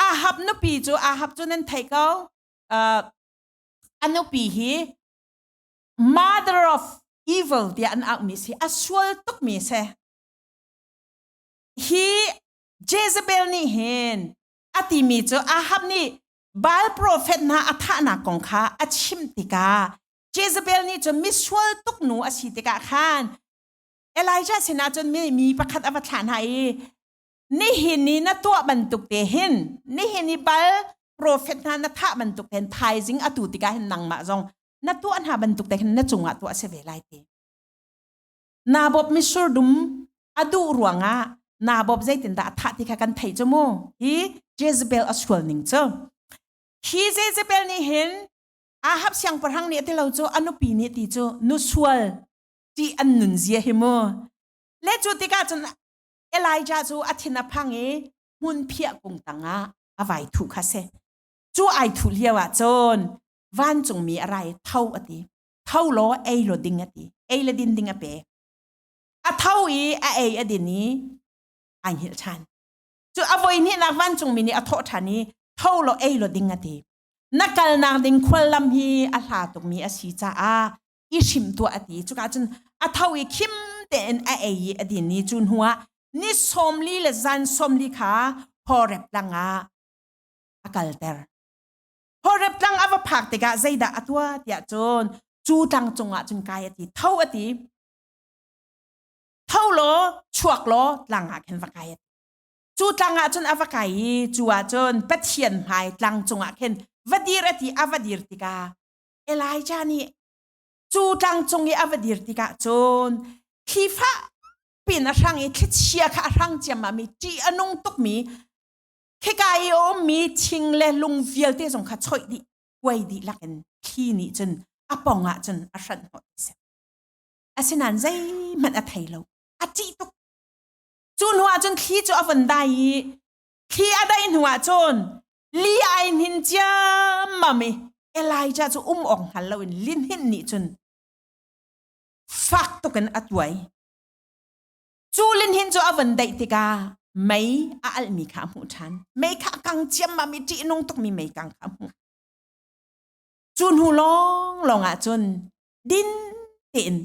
Ahab nupi cu Ahab cu nan theih ko, uh, a nupi hi mother of evil tiah an akmi si a sual tukmi si hi Jezebel nih hin a timi cu Ahab nih Baal profet hna a thahnak kong kha a chim tikah Jezebel nih cun misual tuk nu a si tikah khan Elijah sinah cun mi, mi pakhat a va thlah hna i nihin ni na tuah bantuk te hin nihin i bal profet hna na thah bantuk ten thaizing atu tikah hin nangmah zong na tuah hna bantuk te khin na cungah tuah se ve lai te nabop misur dum adu ruangah nabop zeitin dah thah ti kha kan thei chu mu hi Jezebel asual ning chu hi Jezebel nih hin Ahab siangpahrang nih ti lo chu anupi nih ti chu nu sual ti an nun zia hi mu le cu tikah cun Elijah cu a thin a phang i hmun phiah kung tangah a vai thu kha se chu ai thu liao ah cun vancungmi a rai tho a ti tho law ei lo ding a ti ei le din ding a pek a tho i a ei a din i ai hngilh ṭhan cu a voi hnihnak vancungmi nih a thawh ṭhan i tho law ei lo ding a ti na kalnak ding khuallam hi a hla tukmi a si caah i hrim tuah a ti cuka cun a tho i khim tein a ei i a din ni cu hnu ah ni sawmli le zan sawmli kha horep langah a kalter Horep tlang a va phak tikah zeidah a tua tiah cun cu tlang cungah cun kai a ti tho a ti tho law chuak law tlang ah khin va kai a ti cu tlang ah cun a va kai i cu ah cun pathian hmai tlang cungah khin va dir a ti a va dir tikah Elijah nih cu tlang cung i a va dir tikah cun thlifa pin a hrang i thlichia kha a hrang ciammam i ṭih a nung tukmi khika i a ummi thing le lung vialte zong kha choih dih kuai dih lakin thli nih cun a pong ah cun a hranh hoi si asinain zeihmanh a thei lo a ṭih tuk cu hnuah cun thli cu a von dai i thli a dai hnuah cun li ai hnin ciammam i Elijah cu um awk hngal loin linhin nih cun fak tukin a tuai cu linhin cu a van daih tikah mei a alhmi kha hmuh ṭhan mei kha kang ciammam i ṭihnung tukmi mei kang kha hmuh cu hnu lawng lawng ah cun din tein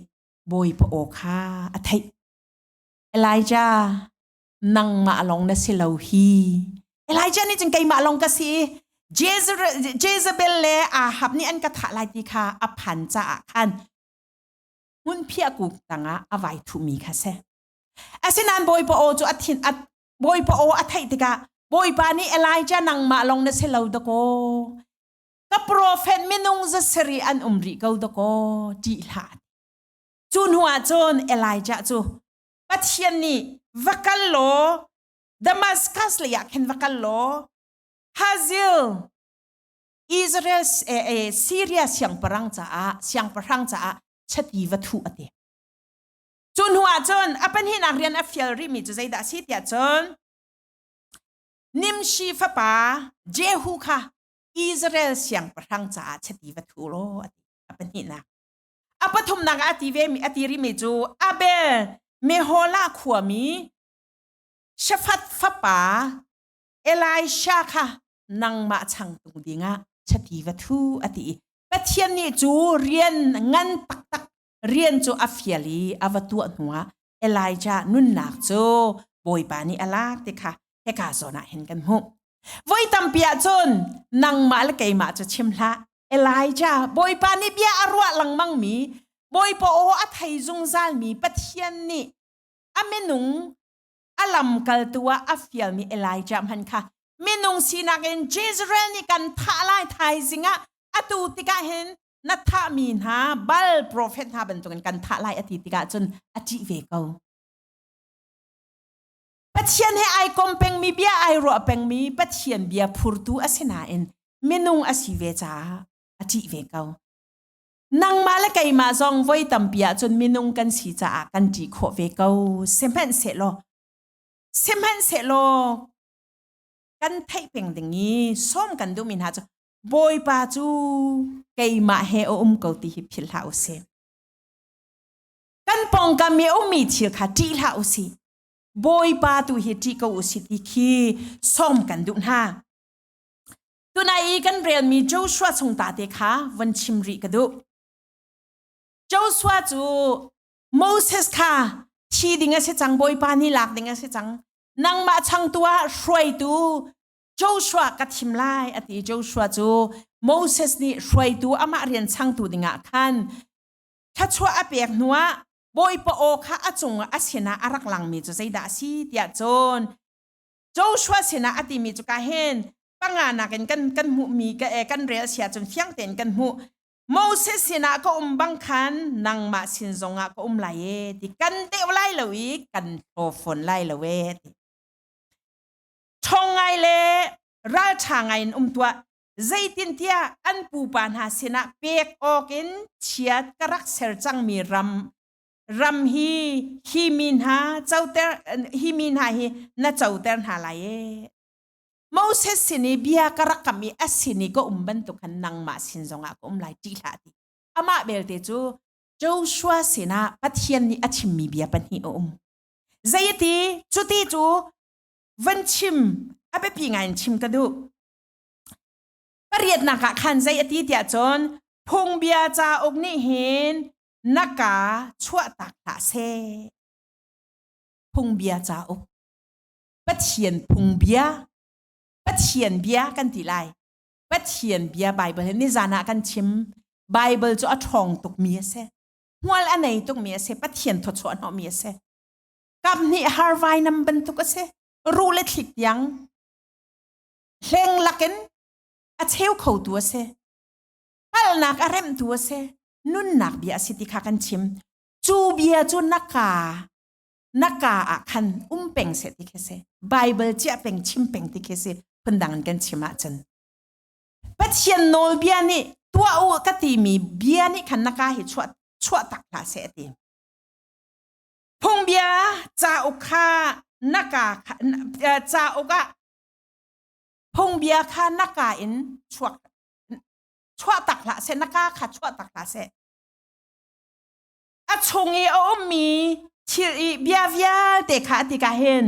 bawipa aw kha a theih Elijah nangmah lawng na si lo hi Elijah nih cun keimah lawng ka si Jezebel le Ahab nih an ka thah lai ti kha a phan caah khan hmunphiah kuk tangah a vai thuhmi kha si asinain bawipa aw cu a thin a bawipa aw a theih tikah bawipa nih elijah nangmah lawng na si lo dakaw ka profet minung za sari an um rih ko dakaw ti hla cu hnuah cun elijah cu pathian nih va kal law damascus leiah khin va kal law hazil Israel Syria siangpahrang caah siangpahrang caah chati va thuh a ti. Cu hnu ah cun a panhinak rian a fial rihmi cu zeidah a si tiah cun Nimshi fapa Jehu kha Israel siangpahrang caah chati va thu law a ti a pahnihnak. A pathumnak ah a ti ve a ti rihmi cu Abel Meholah khuami Shafat fapa Elisha kha nangmah changtu dingah chati va thu a ti i Pathian nih cu rian ngan taktak rian cu a fial i a va tuah hnuah Elijah nunnak cu Bawipa nih a lak ti kha hika zawnah hin kan hmuh. Voi tampi ahcun nangmah le keimah cu chim hlah Elijah Bawipa nih bia a ruah lengmangmi Bawipa aw a thei zungzalmi Pathian nih a minung a lamkaltu ah a fialmi Elijah hmanh kha minung sinak in Israel nih kan thah lai thaizing ah atu tikah hin na thahmi hna bal profet hna bantukin kan thah lai a ti tikah cun a ṭih ve ko. Pathian he ai kom pengmi bia ai ruah pengmi Pathian bia phurtu a si nain minung a si ve caah a ṭih ve ko. nangmah le keimah zong voi tampi ahcun minung kan si caah kan ṭi khawh ve ko sihmanhsehlaw sihmanhsehlaw kan theih peng ding i sawm kan duhmi hna cu bawipa cu keimah he a um ko ti hi philh hlah u sih kan pawngkam i a ummi thil kha ṭih hlah u sih bawipa tu hi ṭih ko u sih ti khi sawm kan duh hna tunai i kan relmi Joshua chung ta te kha von chim rih ka duh Joshua cu Moses kha thi ding a si cang Bawipa nih lak ding a si cang nangmah changtu ah hruaitu Joshua ka thim lai a ti Joshua cu Moses nih hruaitu amah rian changtu dingah khan thlachuah a pek hnuah Bawipa aw kha a cung a sinah a rak langmi cu zeidah a si tiah cun Joshua sinah a timi cu ka hin panga nakin kan kan hmuhmi ka eh kan rel sia cun fiang tein kan hmuh Moses sinah ka um bang khan nangmah sin zongah ka um lai e ti kan deuh lai lo i kan thlaw fawn lai lo e ti ṭhong ngai le ralṭha ngai in um tuah zeitintiah an pupa hna sinah pek awk in chiat ka rak ser cangmi ram ram hi hi mi hna coter hi mi hna hi na coter hna lai e moses sin i bia ka rak kam i asin i ka um bantuk khan nangmah sin zongah ka um lai ti hlah ti amah belte cu Joshua sinah Pathian nih a chimmi bia pahnih a um zeiti cuti cu van chim a biapi ngai in chim ka duh pariatnak ah khan zei ati tiah cun phungbia cauk nih hin na ka chuahtak hlah seh. Phungbia cauk. Pathian phungbia. Pathian bia kan ti lai. Pathian bia Bible hi nizan ah kan chim. Bible cu a ṭhawng tukmi a si. Hmual a nei tukmi a si. Pathian thawchuah hnawhmi a si. Kap nih harvai nam bantuk a si. Ruh le thlik tiang hleng lakin a cheu khotu a si. hngalhnak a remhtu a si nunnak bia a si ti kha kan chim cu bia cu na ka na ka ah khan um peng se ti khi si bible chia peng chim peng ti khi si phundang in kan chim ah cun pathian nawlbia nih tuah u ka timi bia nih khan na ka hi chuah chuah tak hlah se ti phungbia cauk kha na ka cauk ah phungbia kha na ka in chuak chuah tak hlah seh na ka kha chuah tak hlah seh a chung i a ummi thil i bia vialte kha ati ka hin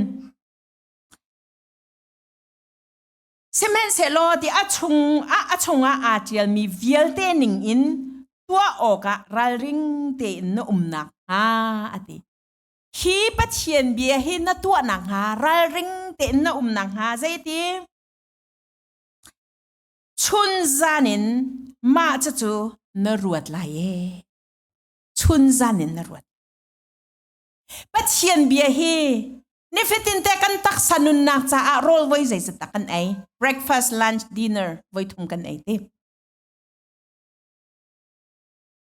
sihmanhsehlaw ti a chung a, a chungah aa ṭialmi vialte ning in tuah awkah ralring tein na umnak hnga ati hi pathian bia hi na tuahnak hnga ralring tein na umnak hnga zeiti chun zan in mah cucu na ruat lai e chun zan in na ruat pathian bia hi nifatin te kan taksa nunnak caah rawl voi zei ta kan ei breakfast lunch dinner voi thum kan ei te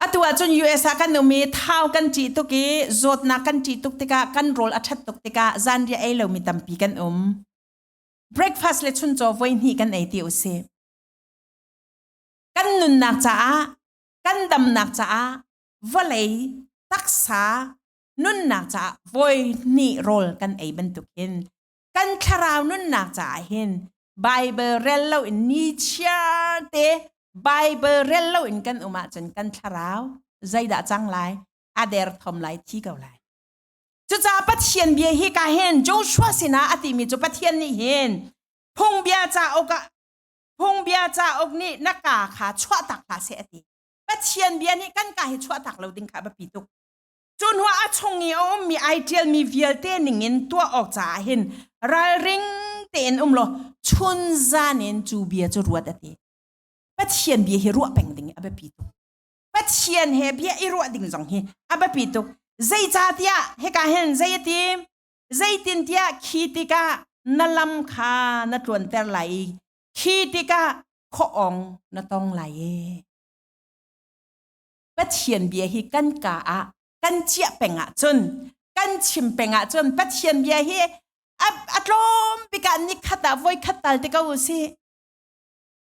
atu ahcun US ah kan umi thau kan ci tuk i zawtnak kan ci tuk tikah kan rol a that tuk tikah zanriah ei lomi tampi kan um breakfast le chuncaw voihnih kan ei ti usih kan nunnak caah kan damnak caah vawlei taksa nunnak caah voihnih rawl kan ei bantuk hin kan thlarau nunnak caah hin Bible rel lo in ni te Bible rel lo in kan um ahcun kan thlarau zeidah cang lai a der thom lai thi ko lai Cucaah Pathian bia hi ka hin Joshua sinah a timi cu Pathian nih hin phungbia cauk ah phungbia cauk nih na ka kha chuahtak hlah seh a ti. Pathian bia nih kan ka hi chuahtak lo ding kha a biapi tuk. Cu hnuah a chung i a ummi ai ṭialmi vialte ningin tuah awk caah hin ralring tein um law chun zan in cu bia cu ruat a ti. Pathian bia hi ruah peng ding i a biapi tuk. Pathian he bia i ruah ding zong hi a biapi tuk. Zeicahtiah hika hin zei ati? Zeitintiah khi tikah na lam kha na tluanter lai i khi tikah khuaawng na tong lai e. Pathian bia hi kan ka ah kan ciah peng ah cun kan chim peng ah cun Pathian bia hi a, a tlawm bik ah ni khat ah voi khat tal te ko u sih.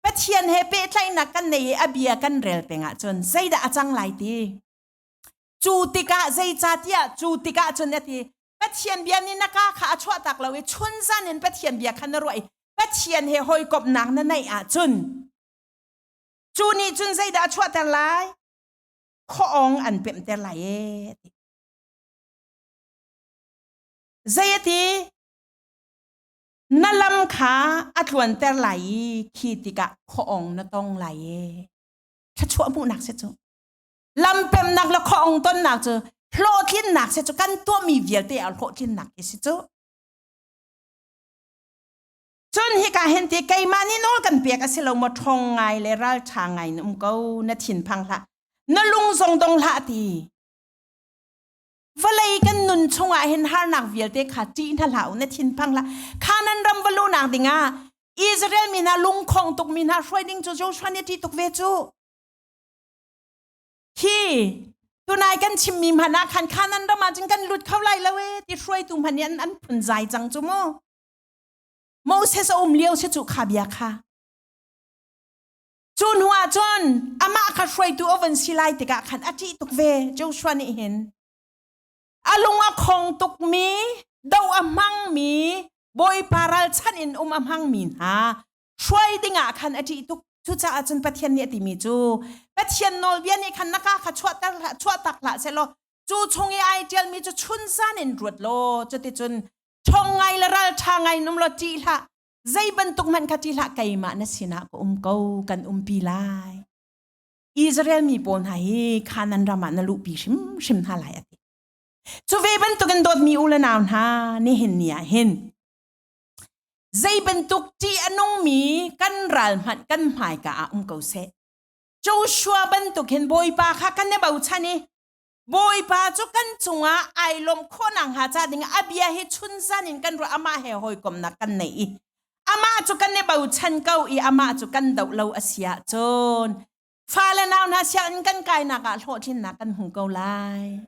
Pathian he pehtlaihnak kan nei i a bia kan rel peng ahcun zeidah a cang lai ti. Cu tikah zeicatiah cu tikah cun ati Pathian bia nih na ka kha a chuahtak lo i chun zan in Pathian bia khan na ruah i Pathian he hawikomhnak na neih ahcun cu nih cun zeidah a chuahter lai khoong an pemhter lai e ti. Zei ati Na lam kha a tluanter lai i khi tikah khuaong na tong lai e. Thluachuah hmuhnak si cu. Lampernak le khuaong tonnak cu hlawhtlinnak si cu kan tuahmi vialte a hlawhtlinnak hi si cu. Cun hika hin ti keimah nih nawl kan pek a si lo maw ṭhong ngai le ral ṭha ngai na um ko na thinphang hlah na lung zong dong hlah ti vawlei kan nun chungah hin harnak vialte kha ṭih hna hlah u na thinphang hlah kha nan ram va luhnak dingah Israel mi hna lungkhong tukmi hna hruai ding cu Joshua nih a ṭih tuk ve cu hi tunai kan chimmi hmanh ah khan khanan ram ah cun kan lut kho lai lo e ti hruaitu hmanh nih an an phun zai cang cu mu Moses a um lio si cu kha bia kha Cu hnu ah cun amah kha hruaitu a van si lai tikah khan a ṭih tuk ve Joshua nih hin. A lung a khong tukmi, do a hmangmi, Bawipa ralchanh in um a hmangmi hna hruai dingah khan a ṭih tuk. Cucaah cun Pathian nih a timi cu Pathian nawlbia nih khan na ka kha chuahter hlah chuahtak hlah sehlaw cu chung i ai ṭialmi cu chun zan in ruat law cuticun ṭhawng ngai le ralṭha ngai nung law ṭih hlah zei bantuk hmanh kha ti hlah keimah na sinah ka um ko kan umpi lai Israel mi pawl hna hi Kanan ram ah na luhpi hrimhrim hna lai ati cu ve bantukin dawtmi u le nau hna nihin ni ah hin zei bantuk ti anungmi kan ral hmanh kan hmaika ah um ko seh Joshua bantukin bawipa kha kan i bochan i Bawipa cu kan cungah ai lawm khawhnak hnga ca dingah a bia hi chunzan in kan ruah amah he hawikomnak kan nei i amah cu kan i bochan ko i amah cu kan doh lo a si ahcun fale nau hna sianginn kan kainak ah hlawhtlinnak kan hmu ko lai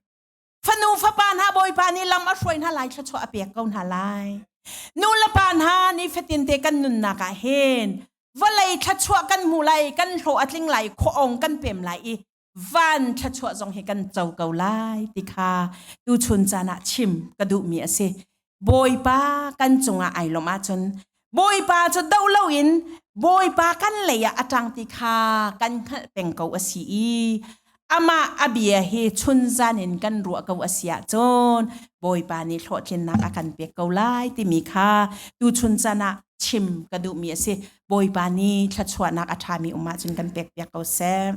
fanu fapa hna bawipa nih lam a hruai hna lai thluachuah a pek ko hna lai nu le pa hna nifatinte kan nunnak ah hin vawlei thluachuah kan hmu lai kan hlawh a tling lai khuaong kan pem lai i van thluachuah zong hi kan co ko lai ti kha tuchun caan ah chim ka duhmi a si. Bawipa kan cungah ai lawm ahcun Bawipa cu doh loin Bawipa kan lei ah a ṭang ti kha kan hngalh peng ko a si i amah a bia hi chunzan in kan ruah ko a si ahcun Bawipa nih hlawhtlinnak a kan pek ko lai timi kha tuchun caan ah chim ka duhmi a si. Bawipa nih thluachuahnak a ṭhami um ahcun kan pek piak ko seh.